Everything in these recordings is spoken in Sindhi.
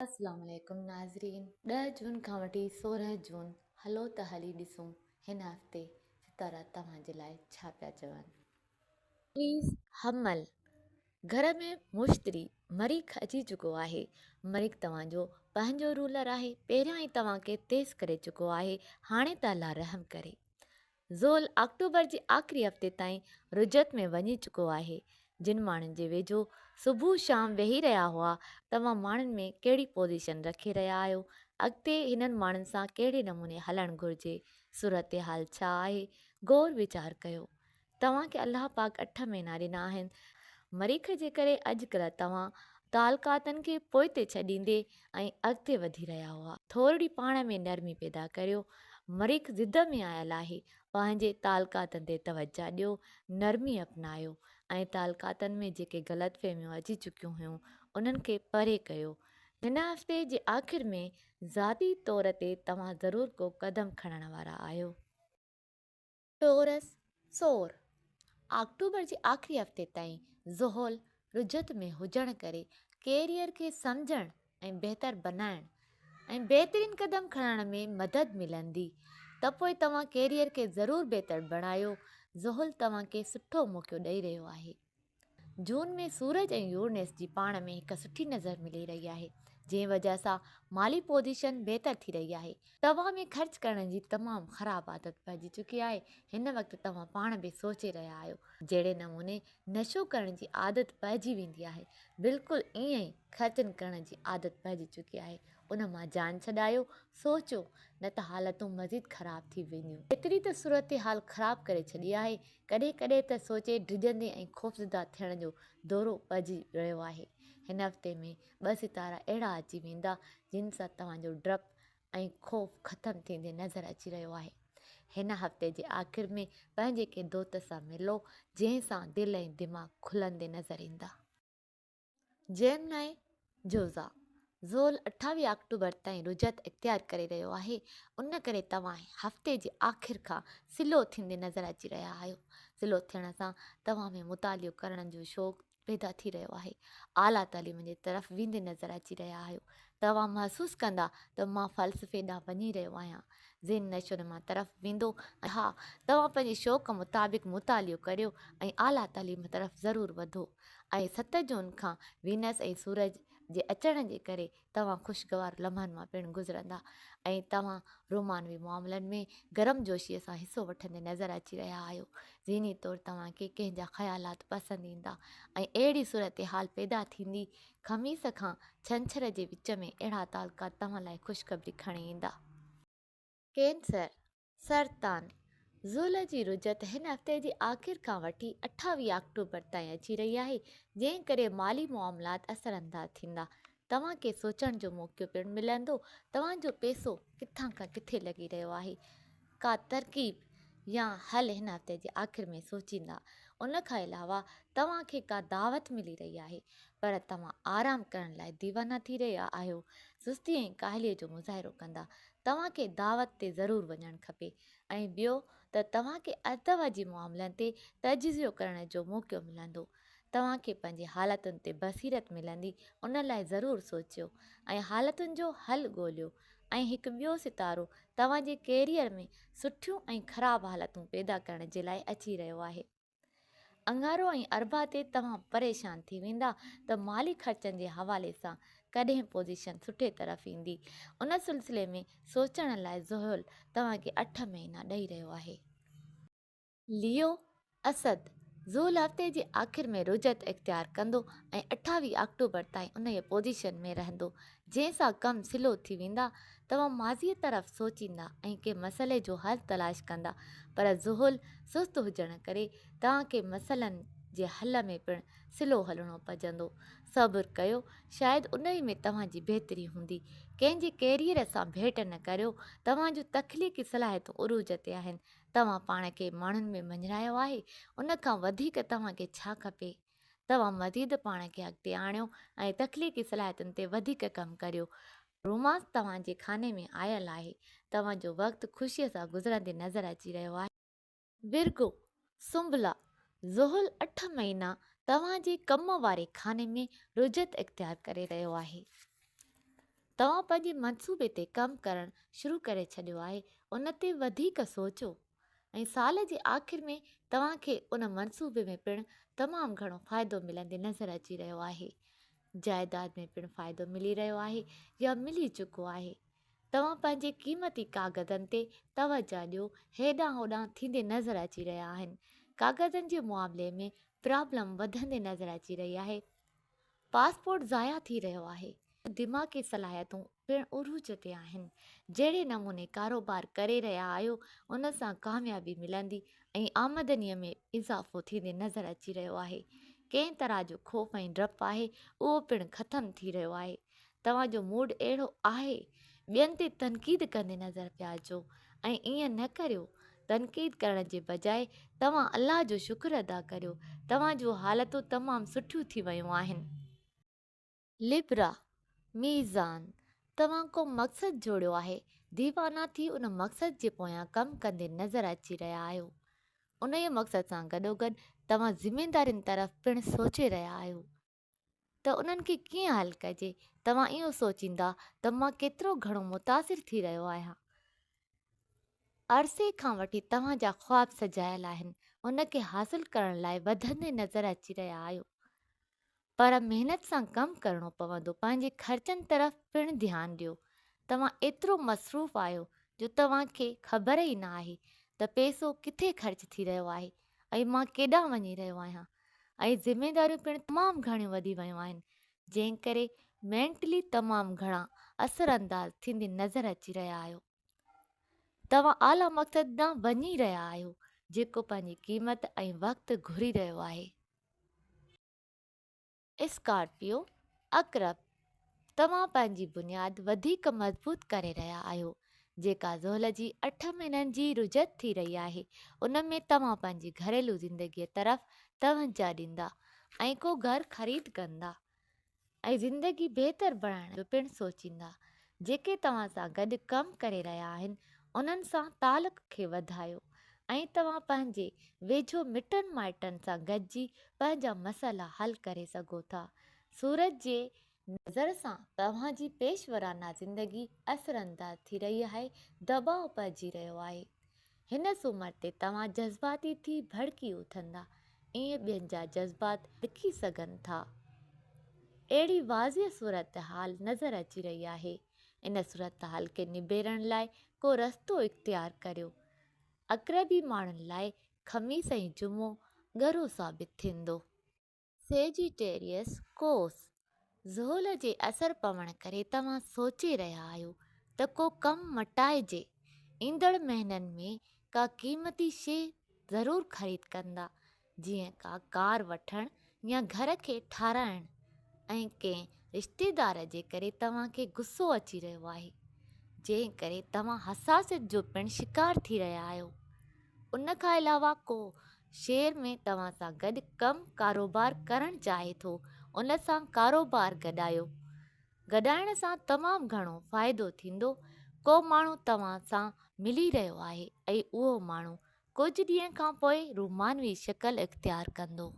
اسلام عليڪم ناظرين ڏهه جون کان وٺي سورهن جون هلو ته هلي ڏسون هن هفتي ستارا توهان جي لاء ڇا پيا چون. پليز حمل گهر ۾ مشتري مريخ اچي چڪو آهي مريخ توهان جو پنهنجو رولر آهي پهريان ئي توهان کي تيز ڪري چڪو آهي هاڻي ته الله رحم ڪري زحل آڪٽوبر جي آخري هفتي تائين رجعت ۾ وڃي چڪو آهي، جن ماڻهن جي ويجهو صبح شام ويهي رهيا هئا، توهان ماڻهن ۾ ڪهڙي پوزيشن رکي رهيا آهيو، اڳتي هنن ماڻهن سان ڪهڙي نموني هلڻ گهرجي، صورتحال ڇا آهي، غور ويچار ڪيو. توهان کي الله پاڪ اٺ مهينا ڏنا آهن، مريخ جي ڪري اڄڪلهه توهان تعلقاتن کي پوئتي ڇڏيندي، ۽ اڳتي وڌي رهيا هئا. ٿورڙي پاڻ ۾ نرمي پيدا ڪريو. مريخ ضد ۾ آيل آهي. پنهنجي تعلقاتن تي توجهه ڏيو. نرمي اپنايو ۽ تعلقاتن ۾ جيڪي غلط فهميون اچي چڪيون هيون انهن کي پري ڪيو. هن هفتي جي آخر ۾ ذاتي طور تي توهان ضرور ڪو قدم کڻڻ وارا آهيو. ٽورس، سور، آڪٽوبر جي آخري هفتي تائين زحل رجعت ۾ هجڻ ڪري ڪيريئر کي سمجهڻ ۽ بهتر بنائڻ ۽ بهترين قدم کڻڻ ۾ مدد ملندي ته پوء توهان ڪيريئر کي ضرور بهتر بڻايو زحل توهان کي سٺو موقعو ڏئي رهيو آهي. جون ۾ سورج ۽ يورنس جي پاڻ ۾ هڪ سٺي نظر ملي رهي آهي جنهن وجهه سان مالي پوزيشن بهتر ٿي رهي آهي. توهان ۾ خرچ ڪرڻ جي تمام خراب عادت پئجي چڪي آهي هن وقت توهان پاڻ به سوچي رهيا آهيو جهڙي نموني نشو ڪرڻ جي عادت پئجي ويندي آهي بلڪل ائين ئي خرچن ڪرڻ جي عادت پئجي چڪي آهي ان مان جان ڇڏايو سوچيو نه ته حالتون مزيد خراب ٿي وينديون. ايتري ته صورتحال خراب ڪري ڇڏي آهي ڪڏهن ڪڏهن ته سوچي ڊڄندي ۽ خوفزده ٿيڻ جو دورو پئجي رهيو آهي. هن هفتي ۾ ٻه ستارا اهڙا اچي ويندا جن سان توهان جو ڊپ ۽ خوف ختم ٿيندي نظر اچي رهيو آهي. هن هفتي جي آخر ۾ پنهنجي ڪنهن دوست سان ملو جنهن سان دل ۽ دماغ کلندي نظر ايندا. جيمنائي جوزا زول اٺاويهه آڪٽوبر تائين رجعت اختيار ڪري رهيو آهي ان ڪري توهان هفتي جي آخر کان سلو ٿيندي نظر اچي رهيا آهيو سلو ٿيڻ سان توهان ۾ مطالعو ڪرڻ جو شوق پيدا ٿي رهيو آهي اعليٰ تعليم جي طرف ويندي نظر اچي رهيا آهيو توهان محسوس ڪندا ته مان فلسفي ڏانهن وڃي رهيو آهيان ذهن نشو نما طرف ويندو ها توهان پنهنجي شوق مطابق مطالعو ڪريو ۽ اعليٰ تعليم طرف ضرور وڌو ۽ ست جون کان وينس ۽ سورج جي اچڻ جي ڪري توهان خوشگوار لمحن مان پڻ گذرندا ۽ توهان رومانوي معاملن ۾ گرمجوشيء سان حصو وٺندي نظر اچي رهيا آهيو. ذهني طور توهان کي ڪنهن جا خيالات پسند ايندا ۽ اهڙي صورتحال پيدا ٿيندي، خميس کان ڇنڇر جي وچ ۾ اهڙا تعلقات توهان لاء خوشخبري کڻي ايندا. ڪينسر، سرطان، زحل جي رجعت هن هفتي جي آخر کان وٺي اٺاويهه آڪٽوبر تائين اچي رهي آهي، جنهن ڪري مالي معاملات اثرانداز ٿيندا. توهان کي سوچڻ جو موقعو پڻ ملندو توهان جو پئسو ڪٿان کان ڪٿي لڳي رهيو آهي. ڪا ترڪيب يا حل هن هفتي جي آخر ۾ سوچيندا. ان کان علاوه توهان کي ڪا دعوت ملي رهي آهي، پر توهان آرام ڪرڻ لاء ديوانا ٿي رهيا آهيو، سستي ۽ ڪاهليء جو مظاهرو ڪندا، توهان کي دعوت تي ضرور وڃڻ کپي ۽ ٻيو ته توهان کي ارطغرل جي معاملن تي تجزيو ڪرڻ جو موقعو ملندو. توهان کي پنهنجي حالتن تي بصيرت ملندي ان لاء ضرور سوچيو ۽ حالتن جو حل ڳوليو ۽ هڪ ٻيو ستارو توهان جي ڪيريئر ۾ سٺيون ۽ خراب حالتون پيدا ڪرڻ جي لاء اچي رهيو آهي. اڱارو ۽ اربع تي توهان پريشان ٿي ويندا ته مالي خرچن جي حوالي سان ڪڏهن پوزيشن سٺي طرف ايندي. ان سلسلي ۾ سوچڻ لاء زحل توهان کي اٺ مهينا ڏئي رهيو آهي. ليو، اسد، زحل هفتي جي آخر ۾ رجعت اختيار ڪندو ۽ اٺاويهه آڪٽوبر تائين انهيء پوزيشن ۾ رهندو، جنهن سان ڪم سلو ٿي ويندا. توهان ماضيء طرف سوچيندا ۽ ڪنهن مسئلي جو حل تلاش ڪندا، پر ذهل سست هجڻ ڪري توهان کي مسئلن جي حل ۾ پڻ سلو هلڻو پئجندو. صبر ڪيو، شايد انهي ۾ توهان جي بهتري هوندي. ڪنهن جي ڪيريئر سان ڀيٽ نه ڪريو، توهان جون تخليقي صلاحيتون عروج تي آهن. توهان پاڻ کي ماڻهن ۾ مڃرايو آهي، ان کان وڌيڪ توهان کي ڇا کپي؟ توهان مزيد پاڻ کي اڳتي آڻيو ۽ تخليقي صلاحيتن تي وڌيڪ ڪم ڪريو. رومانس توهان جي خاني ۾ آيل آهي. توهان جو وقت خوشيء سان گذرندي نظر اچي رهيو آهي. ورگو، سنبلا، زحل اٺ مهينا توهان جي ڪم واري خاني ۾ رجعت اختيار ڪري رهيو آهي. توهان پنهنجي منصوبي تي ڪم ڪرڻ شروع ڪري ڇڏيو آهي. ان تي وڌيڪ سوچو. ۽ سال جي آخر ۾ توهان کي ان منصوبي ۾ پڻ تمام گهڻو فائدو ملندي نظر اچي رهيو آهي. جائيداد ۾ پڻ فائدو ملي رهيو آهي يا ملي چڪو آهي. توهان پنهنجي قيمتي ڪاغذن تي توجهه ڏيو هيڏانهن هوڏانهن ٿيندي نظر اچي رهيا آهن. ڪاغذن جي معاملي ۾ پرابلم وڌندي نظر اچي رهي آهي. پاسپورٽ ضايع ٿي رهيو آهي. دماغي صلاحيتون پڻ عروج تي آهن. جهڙي نموني ڪاروبار ڪري رهيا آهيو ان سان ڪاميابي ملندي ۽ آمدني ۾ اضافو ٿيندي نظر اچي رهيو آهي. ڪنهن طرح جو خوف ۽ ڊپ آهي اهو پڻ ختم ٿي رهيو آهي. توهان جو موڊ اهڙو آهي. ٻين تي تنقيد ڪندي نظر پيا اچو ۽ ائين نه ڪريو تنقيد ڪرڻ جي بجاء توهان الله جو شڪر ادا ڪريو توهان جون حالتون تمام سٺيون ٿي ويون آهن. لبرا، ميزان، توهان ڪو مقصد جوڙيو آهي، ديوانا ٿي ان مقصد جي پويان ڪم ڪندي نظر اچي رهيا آهيو. انهيء مقصد سان گڏوگڏ توهان ذميدارين طرف پڻ سوچي رهيا آهيو. ته انهن کي ڪيئن حل ڪجي توهان اهو سوچيندا ته مان ڪيترو گهڻو متاثر ٿي رهيو آهيان عرصي کان وٺي توهان جا خواب سجايل آهن ان کي حاصل ڪرڻ لاء وڌندي نظر اچي رهيا آهيو پر محنت سان ڪم ڪرڻو پوندو پنهنجي خرچن طرف پڻ ڌيان ڏيو توهان ايترو مصروف آهيو جو توهان کي خبر ئي نه آهي ته پئسو ڪٿي خرچ ٿي رهيو آهي ۽ مان ڪيڏانهن وڃي رهيو آهيان ۽ ذميداريون پڻ تمام گهڻيون وڌي ويون آهن جنهن ڪري مينٽلي تمام گهڻا اثر انداز ٿيندي نظر اچي رهيا آهيو توهان اعليٰ مقصد ڏانهن وڃي رهيا آهيو جيڪو پنهنجي قيمت ۽ وقت گهري رهيو آهي. اسڪارپيو عقرب توهان پنهنجي بنياد وڌيڪ مضبوط ڪري رهيا آهيو جيڪا زحل جي اٺ مهينن جي رجعت ٿي رهي آهي ان ۾ توهان پنهنجي گهريلو زندگي طرف توجهه ڏيندا ۽ ڪو گهر خريد ڪندا ۽ زندگي بهتر بڻائڻ جو پڻ سوچيندا جيڪي توهان سان گڏ ڪم ڪري رهيا آهن انهن سان تعلق کي وڌايو ۽ توهان پنهنجي ويجهو مٽن مائٽن سان گڏجي پنهنجا مسئلا حل ڪري سگهو ٿا سورج جي نظر سان توهان جي پيش ورانه زندگي اثرانداز ٿي رهي آهي دٻاء پئجي رهيو آهي هن سومر تي توهان جذباتي ٿي ڀڙڪي اٿندا، ائين ٻين جا جذبات ڏکي سگهن ٿا. اهڙي واضح صورتحال نظر اچي رهي آهي، ان صورتحال کي نبيرڻ لاء ڪو رستو اختيار ڪريو. عقربي ماڻهن لاء خميس ۽ جمعو ڳرو ثابت ٿيندو. سيجيٽيريس ڪوس، زحل جي اثر پوڻ ڪري توهان سوچي رهيا آهيو ته ڪو ڪم مٽائجي، ايندڙ مهينن ۾ ڪا قيمتي شيء ضرور خريد ڪندا، جيئن ڪا ڪار وٺڻ يا گهر کي ٺارائڻ ۽ ڪنهن رشتيدار جي ڪري توهان کي غصو اچي رهيو آهي، جنهن ڪري توهان حساسيت جو پڻ شڪار ٿي رهيا آهيو، ان کان علاوه ڪو شهر ۾ توهان سان گڏ ڪم ڪاروبار ڪرڻ چاهي ٿو ان سان ڪاروبار گڏايو گڏائڻ سان تمام گهڻو فائدو ٿيندو ڪو ماڻهو توهان سان ملي رهيو آهي ۽ اهو ماڻهو ڪجهه ڏينهن کان پوء رومانوي شڪل اختيار ڪندو.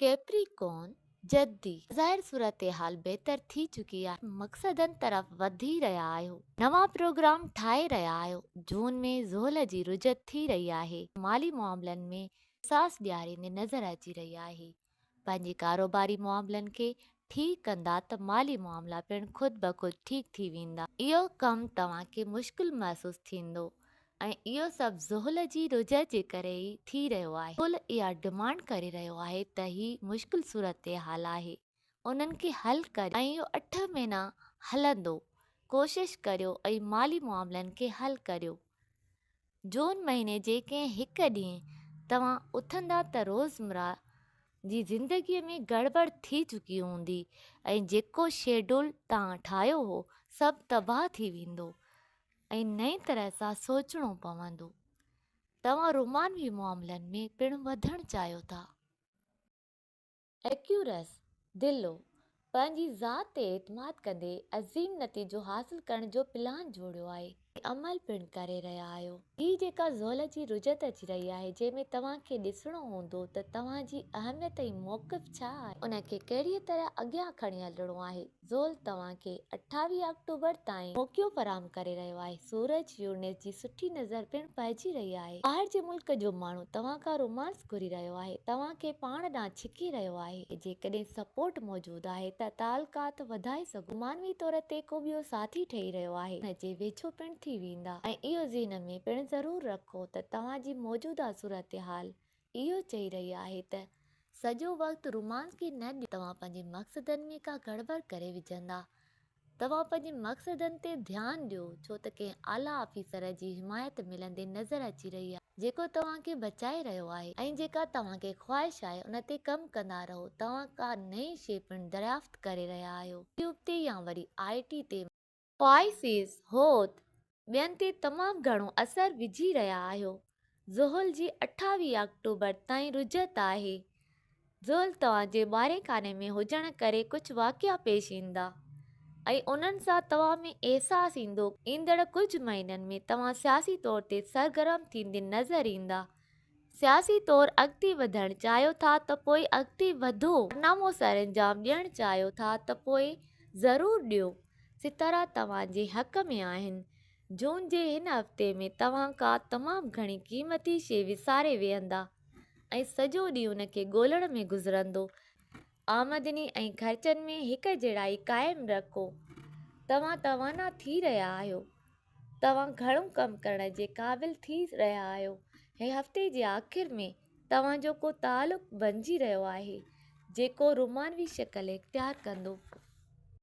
ڪيپريڪون، جدي، ظاهر صورتحال بهتر ٿي چڪي آهي، مقصدن طرف وڌي رهيا آهيو، نوان پروگرام ٺاهي رهيا آهيو، جون ۾ زحل جي رجعت ٿي رهي آهي، مالي معاملن ۾ ساس ڏياريندي نظر اچي رهي آهي، پنهنجي ڪاروباري معاملن کي ٺيڪ ڪندا ته مالي معاملا پڻ خود بخود ٺيڪ ٿي ويندا. اهو ڪم توهان کي مشڪل محسوس ٿيندو ۽ اهو سڀ زحل جي رجعت جي ڪري ئي ٿي رهيو آهي. زحل اها ڊمانڊ ڪري رهيو آهي ته هي مشڪل صورتحال آهي انهن کي حل ڪريو ۽ اهو اٺ مهينا هلندو ڪوشش ڪريو ۽ مالي معاملن کي حل ڪريو جون مهيني جي ڪنهن هڪ ڏينهن توهان اٿندا ته روزمره جي زندگي ۾ گڙٻڙ ٿي چڪي هوندي ۽ جيڪو شيڊول توهان ٺاهيو هو سڀ تباهه ٿي ويندو ۽ نئين طرح سان سوچڻو پوندو. توهان رومانوي معاملن ۾ پڻ وڌڻ چاهيو ٿا. ايڪيورس ديلو پنهنجي ذات تي اعتماد ڪندي عظيم نتيجو حاصل ڪرڻ جو پلان جوڙيو آهي. عمل پڻ ڪري رهيا آهيو. هي جيڪا زحل جي رجعت اچي رهي آهي جنهن ۾ توهان کي ڏسڻو هوندو ته توهان جي اهميت ۽ موقف ڇا آهي. ان کي ڪهڙيء طرح اڳيان کڻي هلڻو آهي. زول توهان کي اٺاويهه آڪٽوبر تائين موقعو فراهم ڪري رهيو آهي. سورج، يورنس جي سٺي نظر پڻ پئجي رهي آهي. ٻاهر جي ملڪ جو ماڻهو توهان کان رومانس گهري رهيو آهي، توهان کي پاڻ ڏانهن ڇڪي رهيو آهي. جيڪڏهن سپورٽ موجود آهي ته تعلقات وڌائي سگهو ٿا. معنوي طور تي ڪو ٻيو ساٿي ٺهي رهيو آهي. توهان ان جي ويجهو پڻ ٿي ويندا ۽ اهو ذهن ۾ پڻ ضرور رکو ته توهان جي موجوده صورتحال اهو چئي رهي آهي ته سڄو وقت رومانس کي نه ڏيو توهان پنهنجي مقصدن ۾ ڪا گڙٻڙ ڪري وجهندا. توهان پنهنجي مقصدن تي ڌيان ڏيو ڇو ته ڪنهن اعليٰ آفيسر جي حمايت ملندي نظر اچي رهي آهي جيڪو توهان کي بچائي رهيو آهي ۽ جيڪا توهان کي خواهش آهي ان تي ڪم ڪندا رهو توهان ڪا نئين شيء پڻ دريافت ڪري رهيا آهيو يوٽيوب تي يا وري آء ٽي تي پائسيز، حوت، ٻين تي تمام گهڻو اثر وجهي رهيا آهيو. زحل جي اٺاويهه آڪٽوبر تائين رجعت آهي. زحل توهان جي ٻارهين خاني ۾ هجڻ ڪري ڪجهه واقعا پيش ايندا ۽ انهن سان توهان ۾ احساس ايندو. ايندڙ ڪجهه مهينن ۾ توهان سياسي طور تي سرگرم ٿيندي نظر ايندا ۽ سياسي طور اڳتي وڌڻ چاهيو ٿا ته پوء اڳتي وڌو، ڪارنامو سرانجام ڏيڻ چاهيو ٿا ته پوء ضرور ڏيو، ستارا توهان جي حق ۾ آهن. جون جي هن هفتي ۾ توهان ڪا تمام گهڻي قيمتي شيء وساري ويهندا ۽ سڄو ڏينهن ان کي ڳولڻ ۾ گذرندو. آمدني ۽ خرچن ۾ هڪجهڙائي قائم رکو، توهان توانا ٿي رهيا آهيو. توهان گهڻو ڪم ڪرڻ جي قابل ٿي رهيا آهيو ۽ هفتي جي آخر ۾ توهان جو ڪو تعلق بڻجي رهيو آهي جيڪو رومانوي شڪل اختيار ڪندو.